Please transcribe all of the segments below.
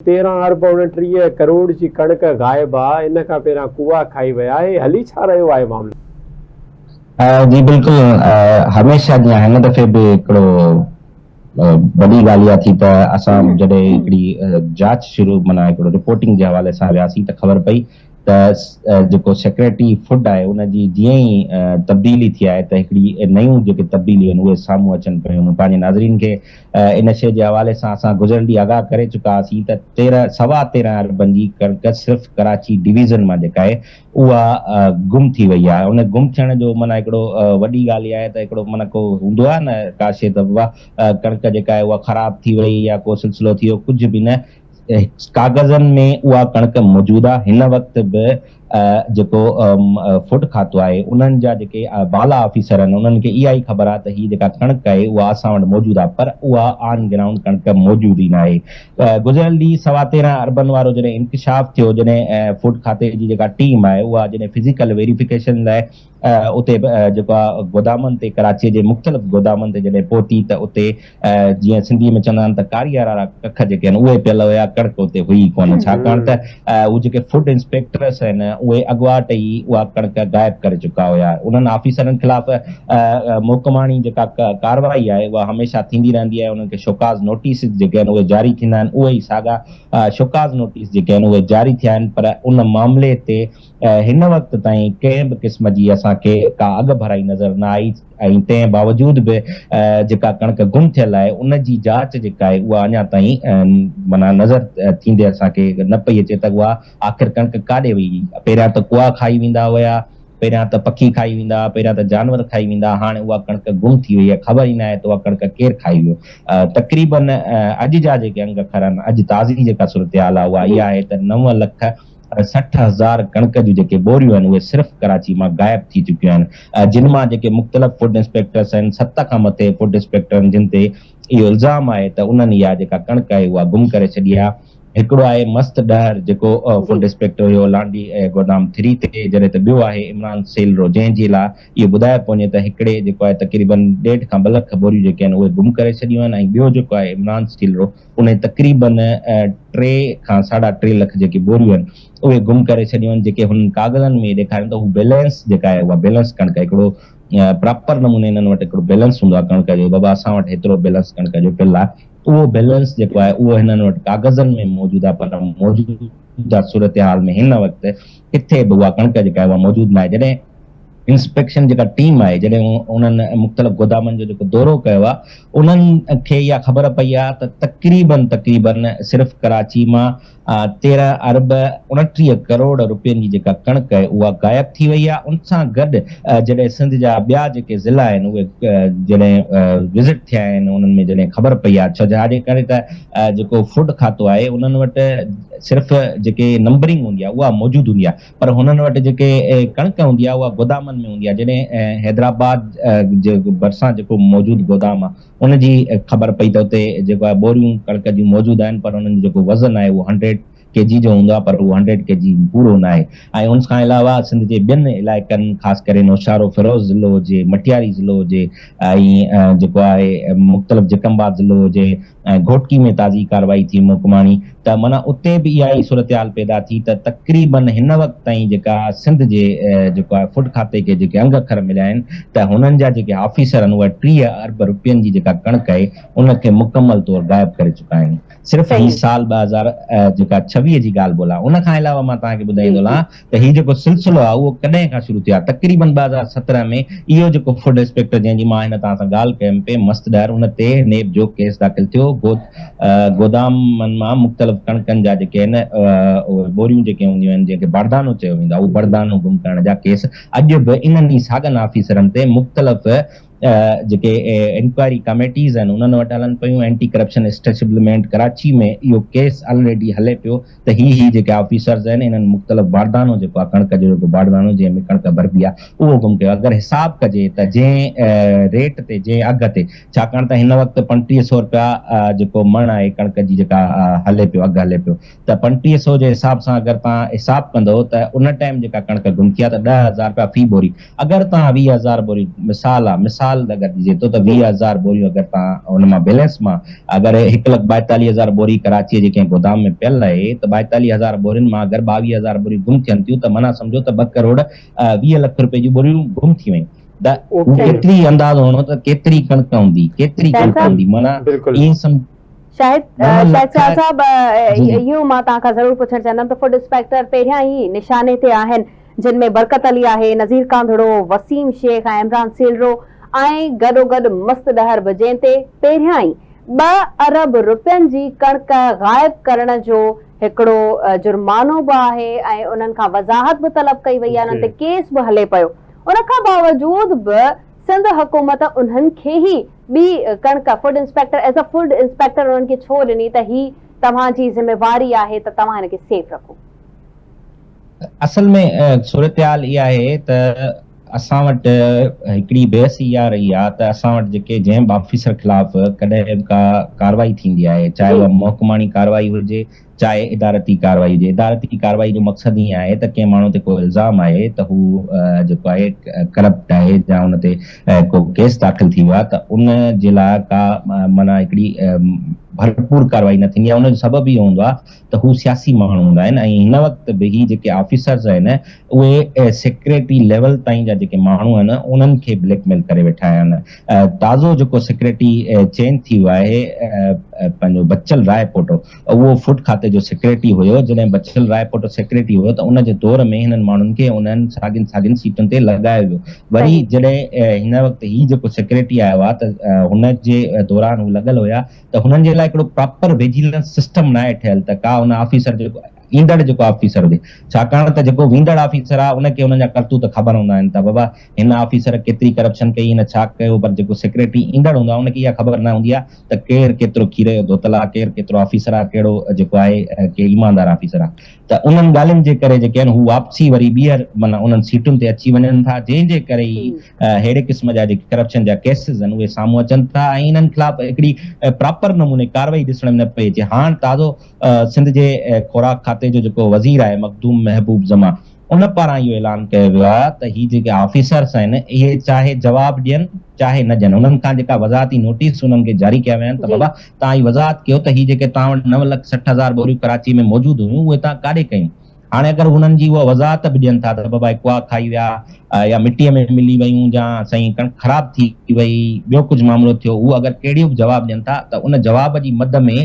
تيرهن ارب اڻٽيهه ڪروڙ جي ڪڻڪ غائب آ ان کان پهريان ڪوئا کائي ويا هي هلي ڇا رهيو آهي معاملو. جي بلڪل هميشه جيان هن دفعي به هڪڙو وڏي ڳالهه اها ٿي ته اسان جڏهن هڪڙي جاچ شروع معنيٰ هڪڙو رپورٽنگ جي حوالي سان وياسين ته خبر پئي ته جيڪو سيڪريٽري فوڊ آهي ان جي جيئن ئي تبديلي ٿي آهي ته هڪڙي نيون جيڪي تبديليون آهن اهي سامهون اچن پيون مون پنهنجي ناظرين کي ان شيء جي حوالي سان اسان گذريل ڏينهن آگاهه ڪري چڪا هئاسين ته تيرنهن سوا تيرنهن اربن جي ڪڻڪ صرف ڪراچي ڊويزن مان جيڪا آهي اها گم ٿي وئي آهي ان گم ٿيڻ جو معنيٰ هڪڙو وڏي ڳالهه اها آهي ته هڪڙو معنيٰ ڪو هوندو آهي نه ڪا شيء ته ڪڻڪ جيڪا آهي اها خراب ٿي وئي يا ڪو سلسلو ٿي ويو ڪجهه به نه ڪاغذن ۾ اها ڪڻڪ موجود آهي، هن وقت به جيڪو فوڊ کاتو آهي انهن جا جيڪي بالا آفيسر آهن انهن کي اها ئي خبر آهي ته هي جيڪا ڪڻڪ آهي اها اسان وٽ موجود آهي پر اها آن گرائونڊ ڪڻڪ موجود ئي ناهي. گذريل ڏينهن سوا تيرهن اربن وارو جڏهن انڪشاف ٿيو جڏهن فوڊ کاتي جي جيڪا ٽيم آهي اها جڏهن فزيڪل ويريفڪيشن لاء اتي جيڪو آ گودامن تي ڪراچيء جي مختلف گودامن تي جڏهن پهتي ته اتي جيئن سنڌيء ۾ چوندا آهن ته ڪاريا رارا ڪک جيڪي آهن اهي پيل هيا ڪڻڪ اتي هئي ئي ڪونه ڇاڪاڻ ته اهي جيڪي فوڊ انسپيڪٽرس آهن اهي اڳواٽ ئي اها ڪڻڪ غائب ڪري چڪا هيا انهن آفيسرن خلاف محڪماڻي جيڪا ڪارروائي آهي اها هميشه ٿيندي رهندي آهي انهن کي شوڪاز نوٽيسز جيڪي آهن اهي جاري ٿيندا آهن اهي ئي ساڳا شوڪاز نوٽيس جيڪي آهن اهي جاري ٿيا آهن پر ان معاملي تي هن وقت تائين ڪنهن به قسم جي اسان کي ڪا اڳڀرائي نظر نه آئي ۽ تنهن باوجود به جيڪا ڪڻڪ گم ٿيل آهي ان جي جاچ جيڪا آهي اها اڃا تائين معنيٰ نظر ٿيندي اسان کي نه پئي اچي ته اها آخر ڪڻڪ ڪاڏي وئي هئي. پهريان ته ڪوئا کائي ويندا هيا، پهريان ته پکي کائي ويندا، پهريان ته جانور کائي ويندا، هاڻي اها ڪڻڪ گم ٿي وئي آهي، خبر ئي نه آهي ته اها ڪڻڪ ڪير کائي ويو. تقريبن اڄ جا جيڪي انگ کر آهن، اڄ تازي جيڪا صورتحال آهي اها اها آهي ته نو لک ۽ سٺ هزار ڪڻڪ جون جيڪي ٻوريون آهن اهي صرف ڪراچي مان غائب ٿي چڪيون آهن جن مان جيڪي مختلف فوڊ انسپيڪٽرس آهن ست کان مٿي فوڊ انسپيڪٽرن جن تي اهو الزام آهي ته انهن اها جيڪا ڪڻڪ آهي اها گم ڪري ڇڏي آهي هڪڙو آهي مست ڏهر جيڪو فوڊ انسپيڪٽر هيو لانڍي گودام ٿري تي جڏهن ته ٻيو آهي عمران سيلرو جنهن جي لا اهو ٻڌايو پيو وڃي ته هڪڙي جيڪو آهي تقريبن ڏيڍ کان ٻه لک ٻوريون جيڪي آهن اهي گم ڪري ڇڏيون آهن ۽ ٻيو جيڪو آهي عمران سيلرو انهن تقريباً ٽي کان ساڍا ٽي لک جيڪي ٻوريون آهن اهي گم ڪري ڇڏيون آهن جيڪي هنن ڪاغذن ۾ ڏيکارين ته هو بيلنس جيڪا آهي اها بيلنس ڪڻڪ هڪڙو پراپر نموني انهن وٽ هڪڙو بيلنس هوندو آهي ڪڻڪ جو بابا اسان وٽ هيترو بيلنس ڪڻڪ جو پيل آهي اهو بيلنس جيڪو آهي اهو هنن وٽ ڪاغذن ۾ موجود آهي پر موجوده صورتحال ۾ هن وقت ڪٿي به اها ڪڻڪ جيڪا آهي اها موجود ناهي جڏهن انسپيڪشن جيڪا ٽيم آهي جڏهن انهن مختلف گودامن جو جيڪو دورو ڪيو آهي انهن کي اها خبر پئي آهي ته تقريباً تقريباً صرف ڪراچي مان تيرهن ارب اڻٽيهه ڪروڙ رپين جي جيڪا ڪڻڪ آهي اها غائب ٿي وئي آهي ان سان گڏ جڏهن سنڌ جا ٻيا جيڪي ضلعا آهن اهي جڏهن وزٽ ٿيا آهن انهن ۾ جڏهن خبر پئي آهي ڇاجي ڪري ته جيڪو فوڊ کاتو آهي انهن وٽ صرف جيڪي نمبرنگ هوندي آهي اها موجود هوندي آهي پر هنن وٽ جيڪي ڪڻڪ هوندي آهي اها گودامن ۾ هوندي آهي جڏهن حيدرآباد جي ڀرسان جيڪو موجود گودام آهي ان جي خبر پئي ته اتي جيڪو آهي ٻوريون ڪڻڪ جون موجود آهن پر انهن جو جيڪو وزن آهي اهو هنڊريڊ ڪي جي جو هوندو آهي پر اهو هنڊريڊ ڪي جي پورو نه آهي ۽ ان کان علاوه سنڌ جي ٻين علائقن خاص ڪري نوشهروفيروز ضلعو هجي مٽياري ضلعو هجي ۽ جيڪو آهي مختلف جيڪب آباد ضلعو هجي ۽ گهوٽڪي ۾ تازي ڪارروائي ٿي محڪماڻي ته معنيٰ اتي به اها ئي صورتحال پيدا ٿي ته تقريبن هن وقت تائين جيڪا سنڌ جي جيڪو آهي فوڊ کاتي کي جيڪي انگ اکر مليا آهن ته هنن جا جيڪي آفيسر آهن اهي ٽيهه ارب روپين جي جيڪا ڪڻڪ آهي ان کي مڪمل طور غائب ڪري چڪا آهن صرف هي سال ٻه هزار جيڪا ڇويهه جي ڳالهه ٻولهه آهي ان کان علاوه مان توهان کي ٻڌائيندو هلان ته هي جيڪو سلسلو آهي اهو ڪڏهن کان شروع ٿيو آهي. تقريبن ٻه هزار سترهن ۾ اهو جيڪو فوڊ انسپيڪٽر جنهن جي مان هن توهان سان ڳالهه ڪيم پئي مست ڏهر ان تي نيب جو ڪيس داخل ٿيو گو گودامن مان مختلف ڪڻڪن جا جيڪي آهن اهي ٻوريون جيڪي هونديون آهن جنهن کي بردانو چيو ويندو آهي اهو بردانو گم ڪرڻ جا ڪيس اڄ به انهن ئي ساڳن آفيسرن تي مختلف جيڪي انڪوائري ڪميٽيز آهن انهن وٽ هلن پيون، اينٽي ڪرپشن اسٽيشبلمينٽ ڪراچي ۾ اهو ڪيس آلريڊي هلي پيو ته هي هي جيڪي آفيسرز آهن انهن مختلف باردانو جيڪو آهي ڪڻڪ جو جيڪو باردانو جنهن ۾ ڪڻڪ ڀربي آهي اهو گم ڪيو اگر حساب ڪجي ته جنهن ريٽ تي جنهن اگهه تي ڇاڪاڻ ته هن وقت پنٽيهه سئو رپيا جيڪو مڻ آهي ڪڻڪ جي جيڪا هلي پيو اگهه هلي پيو ته پنٽيهه سئو جي حساب سان اگر توهان حساب ڪندو ته ان ٽائيم جيڪا ڪڻڪ گم ٿي آهي ته ڏهه هزار رپيا في بوري اگر توهان ويهه هزار بوريون مثال آ مثال اگر ڏجي ٿو ته ويهه هزار بوريون اگر توهان ان مان بيلنس مان اگر هڪ لک ٻائيتاليهه هزار بوري ڪراچيء جي ڪنهن گودام ۾ پيل رهي ته ٻائيتاليهه هزار بورين مان اگر ٻاويهه هزار بوريون گم ٿين ٿيون ته معنيٰ سمجهو ته ٻه ڪروڙ ويهه لک روپين جون بوريون گم ٿي ويون ته هو ڪيتري اندازو هڻو ته ڪيتري ڪڻڪ هوندي ڪيتري ڪڻڪ هوندي معنيٰ ائين سمجهو شاهد شاهد شاهه صاحب اهو مان توهان کان ضرور پڇڻ چاهندم ته فوڊ انسپيڪٽر پهريان ئي نشاني تي آهن جن ۾ برڪت علي آهي، نظير ڪانڌڙو، وسيم شيخ ۽ عمران سيلرو ۽ گڏوگڏ مست ڏهر به جنهن تي پهريان ئي ٻه ارب رپين جي ڪڻڪ غائب ڪرڻ جو هڪڙو جرمانو به آهي ۽ انهن کان وضاحت به طلب ڪئي وئي آهي انهن تي ڪيس به هلي پيو ان کان باوجود به سنڌ حڪومت انهن کي هي ٻي ڪڻڪ food inspector as a food inspector انهن کي ڇو ڏني ته هي توهان جي ذميواري آهي ته توهان هن کي سيف رکو. اصل ۾ صورتحال اها آهي ته اسان وٽ هڪڙي بحث اها رهي آهي ته اسان وٽ جيڪي جنهن به آفيسر خلاف ڪڏهن به ڪا ڪارروائي ٿيندي آهي چاهي اها محڪماڻي ڪارروائي هجي چاهي ادارتي ڪارروائي هجي ادارتي ڪارروائي جو مقصد هي آهي ته ڪنهن ماڻهو تي ڪو الزام آهي ته هو جيڪو آهي ڪرپٽ آهي يا ان تي ڪو ڪيس داخل ٿي ويو آهي ته ان جي لاء ڪا معنيٰ هڪڙي ڀرپور ڪارروائي نه ٿيندي آهي ان جو سبب اهو هوندو آهي ته هو سياسي ماڻهو هوندا آهن ۽ هن وقت به هي جيڪي آفيسرز آهن اهي سيڪريٽري ليول تائين جا جيڪي ماڻهو آهن انهن کي بليڪ ميل ڪري ويٺا آهن تازو جيڪو سيڪريٽري چينج ٿي ويو آهي پنهنجو بچل راء پوٽو اهو فوڊ کاتي جو سيڪريٽري هيو جڏهن بچل راء پوٽو سيڪريٽري هيو ته ان جي دور ۾ هنن ماڻهن کي انهن ساڳين ساڳين سيٽن تي لڳايو ويو وري جڏهن هن وقت هي جيڪو سيڪريٽري آيو آهي ته هن جي دوران هو لڳل هيا ته هنن جي لاء هڪڙو پراپر وجيلنس سسٽم ناهي ٺهيل ته ڪا هن آفيسر جي ايندڙ جيڪو آفيسر هجي ڇاڪاڻ ته جيڪو ويندڙ آفيسر آهي ان کي هنن جا ڪرتوت خبر هوندا آهن ته بابا هن آفيسر ڪيتري ڪرپشن ڪئي هن ڇا ڪيو پر جيڪو سيڪريٽري ايندڙ هوندو آهي ان کي اها خبر نه هوندي آهي ته ڪير ڪيترو کير جو ڌوتل آهي ڪير ڪيترو آفيسر آهي ڪهڙو جيڪو آهي ڪي ايماندار آفيسر آهي ته انهن ڳالهين جي ڪري جيڪي آهن هو واپسي وري ٻيهر معنيٰ انهن سيٽن تي اچي وڃن ٿا جنهن جي ڪري ئي ههڙي قسم جا جيڪي ڪرپشن جا ڪيسز آهن اهي سامهون اچن ٿا ۽ انهن خلاف هڪڙي پراپر نموني ڪارروائي ڏسڻ ۾ نه پئي اچي هاڻ تازو سنڌ جي خوراڪ کاتي جو جيڪو وزير آهي مخدوم محبوب زمان ان پاران اهو اعلان ڪيو ويو آهي ته هي جيڪي آفيسرس آهن اهي چاهي جواب ڏين چاهي نه ڏين انهن کان جيڪا وضاحتي نوٽيس انهن کي جاري ڪيا ويا آهن ته بابا توهان هي وضاحت ڪيو ته هي جيڪي توهان وٽ نو لک سٺ هزار ٻوريون ڪراچي ۾ موجود هيون اهي توهان ڪاڏي ڪيون هاڻي اگر انهن جي اها وضاحت به ڏين ٿا ته بابا هي ڪوئا کائي ويا يا مٽيء ۾ ملي ويون جا سائين ڪڻڪ خراب ٿي وئي ٻيو ڪجهه معاملو ٿيو اهو اگر ڪهڙيو به جواب ڏين ٿا ته ان جواب جي مد ۾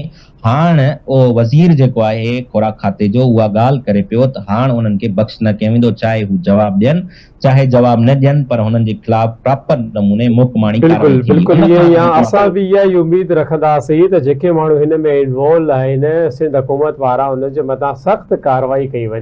هاڻ اهو وزير جيڪو آهي خوراڪ کاتي جو اها ڳالهه ڪري پيو ته هاڻ انهن کي بخش نه ڪيو ويندو چاهي هو جواب ڏين چاهي جواب نه ڏين پر هنن جي خلاف پراپر نموني محڪماڻي ڪارروائي ٿيندي ان کان اڳ ۾ اسان به اها ئي اميد رکنداسين ته جيڪي ماڻهو هن ۾ انوالو آهن سنڌ حڪومت پاران انهن جي مٿان سخت ڪارروائي ڪئي وڃي.